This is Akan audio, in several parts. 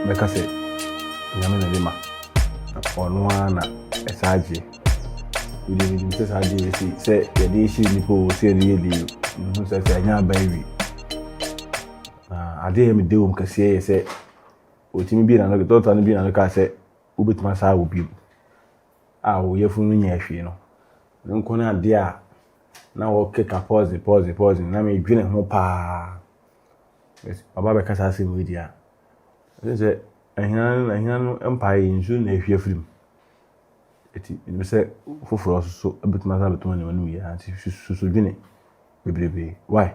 mɛka sɛ nyame na de ma ɔno ara na ɛsɛ agye wode menim sɛ saa deɛ ɛsi sɛ yɛde hyɛ nnipa o sɛ ɛde yɛ deɛ mehu sɛ sɛ ɛnyɛ aba awi na adeɛ yɛ mede wom kɛseɛ yɛ sɛ Otumi bue n'ano, dɔkta no bue n'ano kaa sɛ, wobɛtumi asan awo bio. A wo yafunu no nyɛɛ hwee no, ɛno nko ne adeɛ a na wɔkeka pɔɔse pɔɔse pɔɔse na medwene ho paa. Ɔba bɛka saa asɛm yi di a, ɛsɛ sɛ ahina ahina no mpae yi nsuo na ahwie afiri mu. Ɛti ɛnim sɛ foforɔ nso bɛtumi asan bɛtumi ne wɔn yɛ nti susu dwene bebrebe. Why?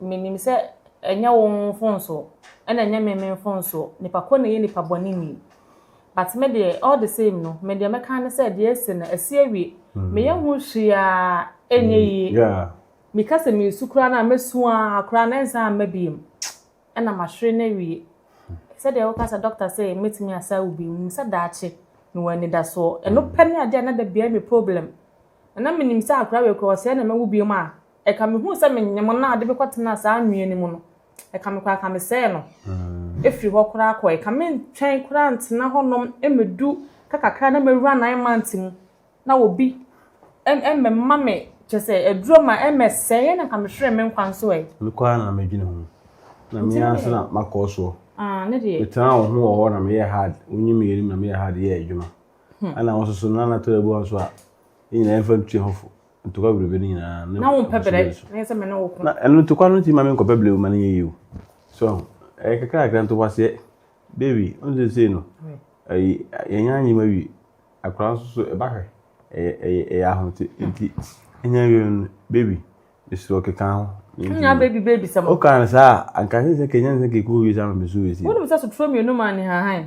Menim sɛ ɛnyɛ wo mfomsoɔ ɛna ɛnyɛ me me mfomsoɔ, nipa ko na ɛyɛ nipa bɔne ni. But me deɛ all the same no, me deɛ mɛka ne sɛ deɛ ɛsi no ɛsi awie. Mm. Me yɛ ho hwia ɛnyɛ mm. yie. Yeah. Meka sɛ mesu koraa na mɛsu a koraa na ɛnsa amma biem. Ɛna mahwere no awie. Sɛdeɛ woka sɛ dɔkta sɛ mɛtumi asa wo bi, menim sɛ daakye mewɔ anidasoɔ. Ɛno pɛ ne adeɛ a na da biara me problem. Na menim sɛ akora wei koraa ɔsɛe na mɛwo biem a Ɛka mehuu sɛ menyem no na ade bi kɔtenaa saa anwea no mu no, ɛka me koraa ka mesɛe no firi hɔ koraa kɔe. Ka mentwɛn koraa ntena hɔnom mmɛdu ka kakra na mawura nine months mu na obi mmɛma me kyɛ sɛ aduro ma ɛmmɛsɛe ɛna ka mehwere me nkwa nso ɛ. Me koraa na medwene ho na me ara nso na makɔ soɔ. Ah, ne deɛ. Metenaa wo ho wɔ hɔ na meyɛ hard, wonyi me anim na meyɛ hard yɛ adwuma. Ɛna wo nso so na na tɔrɔ abu nso a, yɛn nyinaa yɛmfa ntua ho fo. ntokwa bebrebe no nyinaa na wo mpɛ brɛ ɛnyɛ sɛ me ne wo ko na ɛno ntokwa no ntumi ma me nkɔ bɛbrɛ wo ma no yɛ yiw so ɛyɛ kakrakra ntokwaseɛ baby ɔno sɛ sei no ɛyi yɛnyɛ anyi ma wie akora nso so ɛba hwɛ ɛyɛ ɛyɛ ɛyɛ ahote nti ɛnyɛ wie no baby mesoro keka ho nya baby baby sɛ mo ɔka no saa anka sɛ sɛ kenya sɛ kekuo wie saa ma mesu wie si wonim sɛ sotoro mmienu ma ne hahan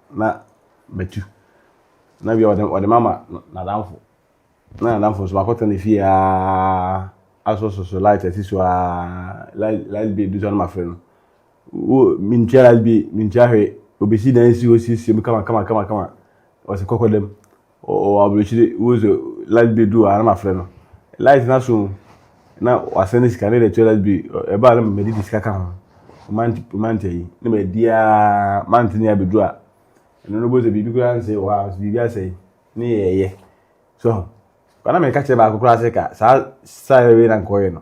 na matu na bia ɔde ɔde mama n'adamfo na n'adamfo nso makɔtɔ ne fie aa asosɔsɔ light asi so aa light light bi edu so na mafrɛ no wo mintua light bi mintua hwee obesi dan si hɔ siesie mu kama kama kama kama ɔsi kɔkɔ dɛm. Ɔwɔ aburokyire wohu sɛ light bill du a na mafrɛ no light no aso na wasɛn ne sika ne de atua light bill ɛba a na mede de sika ka ho mante ayi ne madi a mante ne abɛdu a ɛno no bɔsɛ biribi koraa nsɛe wɔ hɔ a biribi asɛe ne yɛyɛ so bana meka kyerɛ baako koraa sɛ ka saa saa wei na nkɔyɛ no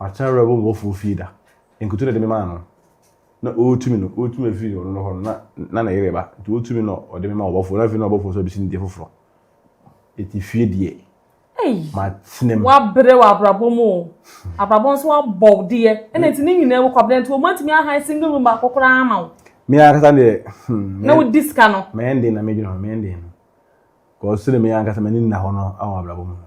Ɔatena werɛ wɔ m'awofo fie da. Nkutu na ɔde me maa no. Na orutu me no, orutu me fi ɔno no hɔ no, na na ne yere reba. Ntsi orutu me na ɔde me ma ɔbɔfo, na afei na ɔbɔfo no so abesi no dua fofor. Ntsi fie deɛ, matsena mu. Wɔabrɛ wo abrabɔ mu o, abrabɔ no so wɔabɔ wo deɛ, nna ntsi ne nyina mu, Kwabena, ntsi wɔanntumi ahan single room baako koraa ama wo. Me ankasa deɛ, hmm. Na wodi sika no. Meyɛ ndeen na medwen ho, meyɛ ndeen. Cause sɛdeɛ me ankasa m'ani nnda hɔ no wɔ abrabɔ mu no,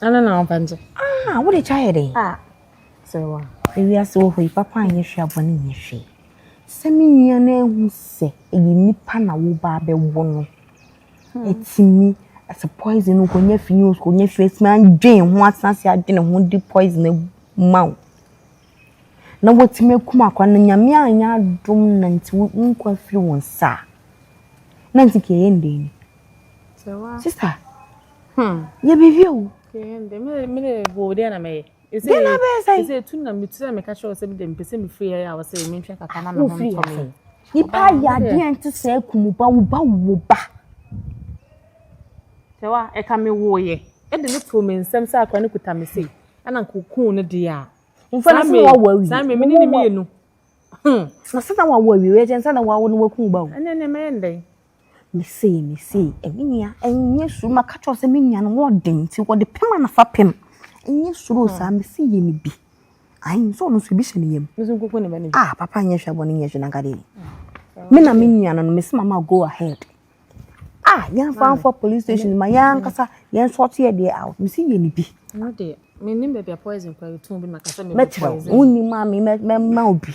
Ana na ɔba nso. Ah, wo de kya yɛ dɛ. Ah, sɛ wa. Ewi ase wɔ hɔ yi papa nyɛ hwɛ abɔ ne nyɛ hwɛ. Sɛ me nua no ehu sɛ ɛyɛ nipa na wo ba bɛ wo no. Hmm. Etimi as a poison no ko nyɛ fi ni o ko nyɛ fi etimi adwen ho asase adwen ho di poison e ma o. Na wotimi akum akwa no nyame anya adom na nti wo nkwa firi wo nsa. Na nti ke yɛ ndɛn. Sister. Hmm. Yɛ biribi o. Kɛhɛndɛ me me de wo deɛ na mɛyɛ. Ɛsɛ deɛ na bɛyɛ sɛ. Ɛsɛ etu na me tura me ka kyerɛ sɛ me de mpɛsɛ me firi ayɛ a wɔsɛ me ntwa kaka na me ho ntɔ me. Nipa ayɛ adeɛ nte sɛ akumu ba wo ba wo ba. Sɛ wa ɛka me wo yɛ. Ɛde ne to me nsɛm sɛ akora ne kuta me sei. Ɛna nkokun ne deɛ a. Nfa ne sɛ wɔwɔ awie. Saa me me ne ne mmienu. Na sɛ na wɔwɔ awie wɛgyɛ nsa na wɔawo no wɔkum ba o. Ɛnɛ ɛnɛ mɛyɛ ndɛn. Me se me se me nua nyɛ suro maka kyerɛ wo sɛ me nua no wɔ ɔden nti wɔde pem ana fa pem nyɛ suro saa me se yɛ ne bi ayi nso ɔno nso ebi hyɛ ne yam ah papa nyɛ hwɛ abɔ ne nyɛ hwɛ na nka de me na me nua no no me se mama go ahead ah yɛn fa nfa police station ma yɛn ankasa yɛn nso ɔte yɛ deɛ out me se yɛ ne bi. ɛno deɛ menim baabi a poison kora yɛtɔn bi na maka sɛ mɛkyerɛ wo wonim a me mɛma obi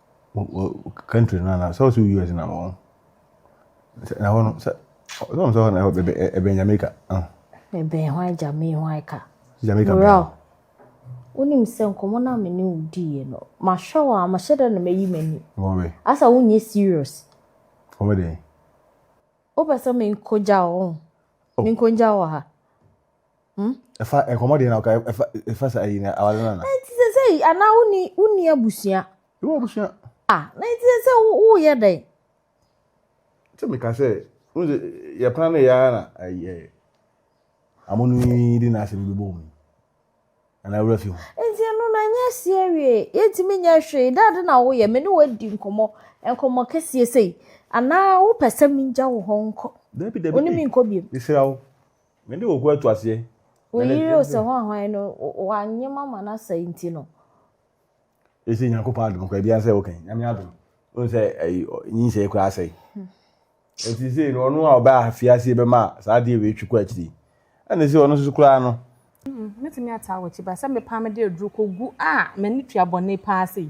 country no na sɛ ɔsɛ US na wɔn na hɔ no sɛ ɔsɛ sɛ na ɛbɛ ɛbɛn Jamaica ah ɛbɛn hɔ a Jamaica hɔ a ka Jamaica bɛn wonim sɛ nkɔmɔ na me ne wodi yɛ no mahwɛ wɔ a mahyɛ dɛ na mayi m'ani wɔn bɛ asa wonyɛ serious wɔn bɛ dɛn wopɛ sɛ menkogya wo oh. menkogya wɔ ha Hmm? ɛfa nkɔmɔ deɛ na ɔka ɛfa ɛfa sa ayi na awale nana. nti sɛ sɛ yi anaa wonni wonni abusua. ewu abusua. ah na nti sɛ sɛ woyɛ dɛn. sɛ meka sɛ n sɛ yɛ plan no yɛ ara na ayi ɛ amo no yi de na asɛm bɛbɔ mu anaa wura fi ho. nti ɛno na nyɛ si awie yɛntumi nyɛ hwee dɛ ade na woyɛ me ne wadi nkɔmɔ nkɔmɔ kɛseɛ sɛ yi anaa wopɛ sɛ mengya wo hɔ nkɔ. dabi dabi wone me nkɔ biom. mesrɛ wo. Me de ɔko atu aseɛ. Wo yere o sɛ hwan hwan no wanyem ama no asa nti no. Ɛsɛ Nyankopɔn adom kɔ ɛbia sɛ wokan nyame adom wohu sɛ nyinsɛe koraa asɛe ɛti sɛ no ɔno a ɔbɛ afie aseɛ bɛma saa adeɛ wei twi kɔ akyiri ɛne sɛ ɔno nso koraa no mɛtumi ataa wɔ akyi ba sɛ mepaa mede aduru kɔgu a m'ani tua bɔne paa sei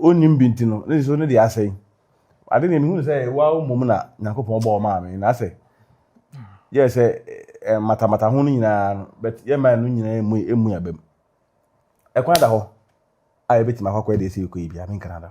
Wonnim bi nti no, ne nsuo no deɛ asɛe. Ade deɛ mehunu sɛ waa mmom na Nyankopɔn bɔɔ maa me, na sɛ yɛ sɛ matamata ho no nyinaa no, but yɛ mmaa no nyinaa emu emu abam. Ɛkwan da hɔ a yɛbɛtumi akɔ akɔyɛ deɛ ɛsɛ yɛkɔ yi bia, menkana da.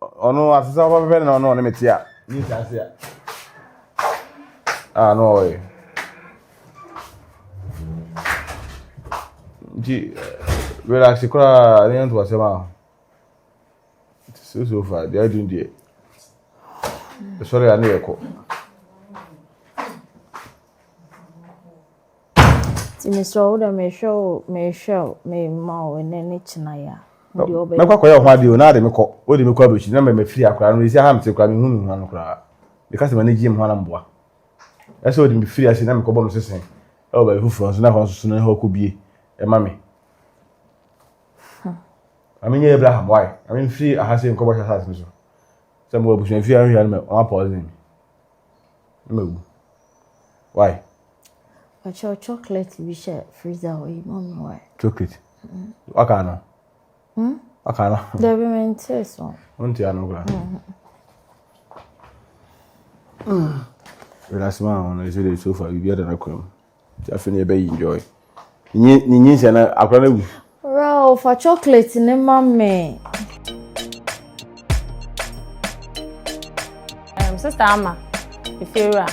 ɔno asesa ɔba bɛbɛ na ɔno ɔne me te a ne nsa ase a a na ɔyɛ nti relax koraa ne yɛnto asɛm a so so far deɛ adi deɛ ɛsɔre a ne yɛkɔ Nti mesrɛ wo dɛ mehwɛ wo mehwɛ wo mema wo ɛnɛ ne kyena yɛ a wo deɛ wobɛyɛ. Mɛkɔ akɔyɛ ho adeɛ o na ade mekɔ o de mekɔ abrɛkyi na mɛ mafiri akora no ɛsi aha mete kora mehu me hua no koraa meka sɛ m'ani gye me hua na mboa ɛsɛ o de mefiri ase na mekɔbɔ me sese ɛwɔ baabi foforɔ nso na hɔ nso so no hɔ kɔbie ɛma me na menyɛ Abraham wae na memfiri aha sɛ nkɔbɔ hyɛ asase no so sɛ mewɔ abusua fie ahwehwɛ no mɛ wɔn apɔɔze me na mawu wae Ɔkyerɛ chocolate bi hyɛ freezer hɔ yi mu mmoa. Chocolate. Waka no. Hmm? Waka no. Dabi mi nti so. Nti ano kura. Relax ma ahono ɛsɛ de sofa biribi ada no kura mu. Ti afei na ɛbɛyi enjoy. Nye nye nye nsia na akora na wu. Rao fa chocolate ne ma me. Um, sister ama efiewura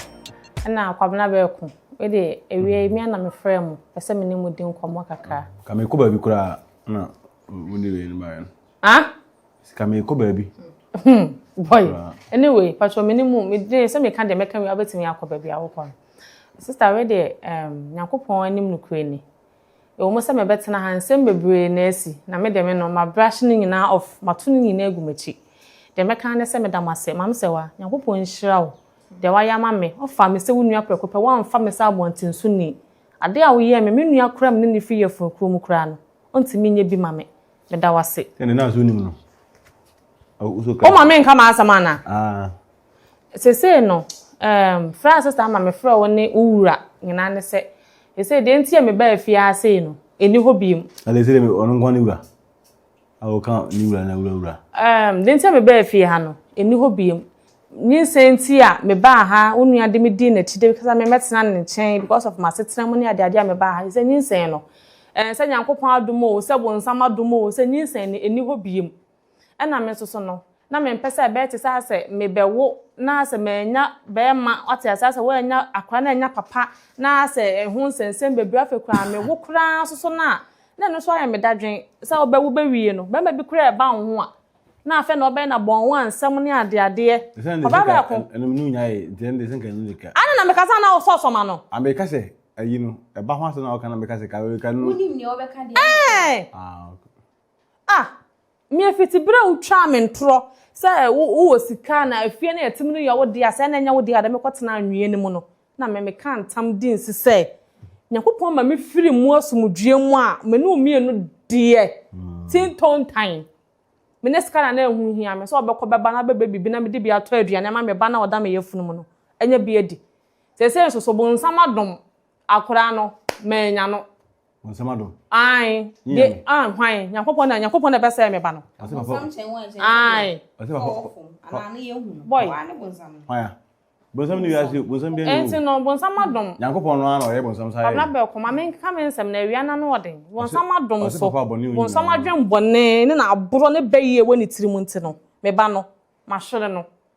na kwabena bɛɛko ɛde ewia emi ana me frɛ mu pɛsɛ me ne mu di nkɔmɔ kakra. Ka me kɔ baabi kura na wo ne wei no ma yɛn. Ah? Ka me kɔ baabi. Hmm. Boy. Anyway, patro me ne mu me de sɛ me ka de me ka wia betumi akɔ baabi awokɔ no. Sister wei deɛ ɛɛm Nyankopɔn anim nokorɛ ni. Ɛwɔ mu sɛ mɛbɛtena ha nsɛm bebree na asi na me deɛ me no ma brush ne nyinaa off mato ne nyinaa agu m'akyi. Deɛ mɛka ara ne sɛ meda mo ase Maame Sewaa Nyankopɔn nhyira wo deɛ wayɛ ama me ɔfaa me sɛ wo nua prɛko pɛ wamfa me sɛ abɔnten so ni adeɛ a woyɛɛ me me nua koraa me ne no firi yafunu kuro mu koraa no ɔntumi nyɛ bi ma me meda wo ase. Ɛne na so nim no. Wo ma me nka m'asɛm anaa? Ah. Sesei no, ɛɛm, frɛ a sista ama mefrɛ wo ne wo wura nyinaa ne sɛ, sesei deɛ nti a mebaa fie ara sei no, ɛnni hɔ biom. Ade sɛ deɛ ɔno nko ara ne wura? A wɔka ne wura na wura wura. Ɛɛm, deɛ nti a mebaa fie ha no, ɛnni hɔ biom. Nyinsɛn nti a mebaa ha, wo nua de me dii n'akyi de sɛ memmɛtena ne nkyɛn because of m'asetena mu ne adeade a mebaa ha. Sɛ nyinsɛn no, ɛɛ, sɛ Nyankopɔn adom o, sɛ bonsam adom o, sɛ nyinsɛn no, ɛnni hɔ biom. Ɛna me nso so no, na mempɛ sɛ ɛbɛyɛ te sɛ asɛ mebɛwo na asɛ mannya bɛɛma, wate aseɛ, asɛ woannya akora na annya papa, na asɛ ɛho nsɛnsɛm bebree, afei koraa mewo koraa nso so no a, na ɛno nso ayɛ me dadwen, sɛ wobɛwo bɛwie no, bɛɛma bi koraa ɛba wo ho a, na afɛ na ɔbɛyɛ na bɔn wo a nsɛm ne adeadeɛ, papa bɛɛko. Ɛnum no nya yɛ, deɛ ɛnde sɛ nka ɛnu nika. Ana na meka sɛ na wo sɔ sɔma no. Ambe ka sɛ, ayi no, ɛba ho asɛm na ɔka na meka sɛ ka, ka no. Wonim nea ɔbɛka deɛ. Ɛɛ. Ah, okay. Ah! Me afitibere a wotwaa me ntorɔ sɛ wowɔ sika na afie no a ɛte mu no yɛ wo dea, sɛ ɛna ɛnyɛ wo dea a, da mekɔtena anwea no mu no, na me mekaa ntam dii nse sɛ, Nyankopɔn ma me firi mu asomdwoeɛ mu a, me ne wo mmienu deɛ tin tontan. Me ne sika na na ɛho hia me, sɛ ɔbɛkɔ bɛba na bɛbɛ biribi na mede bi atɔ aduane ama me ba no a ɔda me yafunu mu no anya bi adi. Seesei nso so bonsam adom. Akora no, manya no. Wɔn nsɛm adɔ. Ae. De, ah, hwan? Nyankopɔn na, Nyankopɔn na ɛbɛsɛe me ba no. Ɔsɛ papa. Bonsam kyɛn wɔn nkyɛn. Ae. Ɔsɛ papa. Ɔfom, anaa ne yɛ hu no. Boy. Wɔn ne bonsam no. Hwan ya? Bonsam ne wiase, bonsam bi ne wu. Ɛnti no, bonsam adom. Nyankopɔn no ara na ɔyɛ bonsam saa yɛ. Abena bɛɛ kɔ, ma me nka me nsɛm na awia no ano wɔ den. Bonsam adom so. Ɔsɛ papa abɔne wo nyinaa. Bonsam adwen bɔne ne na aborɔ ne bɛyɛ wɔ ne tirim nti no, me ba no, mahwere no.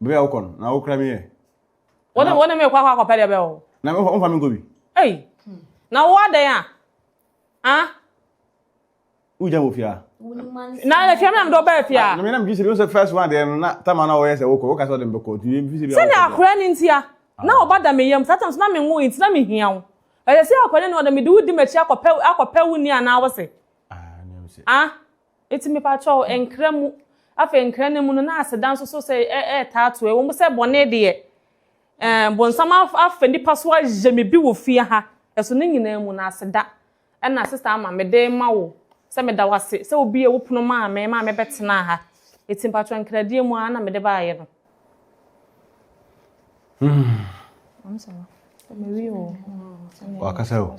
Baabi a wokɔ no, na wokura me yɛ. Wo ne wo ne me kɔ akɔ akɔpɛ deɛ bɛyɛ o. Na me womfa me nkɔ bi. Ei, na wo adɛn a? Ah? Wogya wɔ fie a. Na na fie mi na mede ɔbaa fie a. Na me na megye sɛ bi sɛ first one deɛ no na tama na ɔyɛ sɛ wokɔ woka sɛ ɔde me bɛkɔ nti mfi sɛ bi a. Sɛnea akora ne ntia na ɔba da me yam saa tam so na menwo nti na mehia wo. Ɛsɛ sɛ akora ne nua ɔde mede wo di m'akyi akɔpɛ akɔpɛ wo ni anaa wo se. Ah, nea me se. Ah? Eti mepa kyɛw, nkra mu. Afei nkra no mu no, na aseda nso so sɛ ɛretaa to. Ɛwɔ mu sɛ bɔne deɛ, ɛɛ bonsam afa nipa so ayɛ me bi wɔ fie ha. Ɛso ne nyinaa mu no, aseda na Sista Ama mede rema wo sɛ meda wo ase sɛ wobuee wo pono maa me maa mebɛtenaa ha. Eti mepa kyɛw, nkradeɛ mu ara na mede baeɛ no. Wakasa o.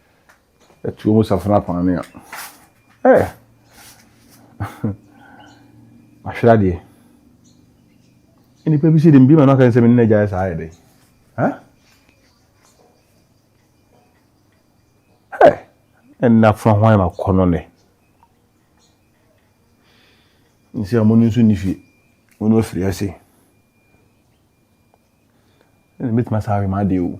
Atuo mu safena kwane a. Ɛɛ! Mahwere adeɛ. Nnipa bi si de bi ma no aka sɛ me ne n'agya yɛ saa yɛ dɛ. Ha? Ɛɛ! Ɛnna fa hwan ma kɔ no ne. Nsi a mo no nso ni fie. Mo no afiri ase. Ɛna metuma saa awe ma adeɛ o.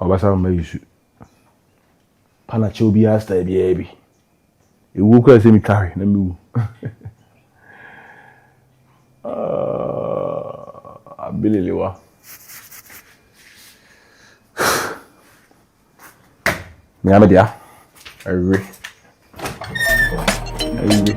Ɔbasa mama yi su pa na kyɛw biara style biara bi. Ewuo koraa sɛ metwa hwe na mewu. Ah, abililiwa. Nea me dea. Awe. Awe.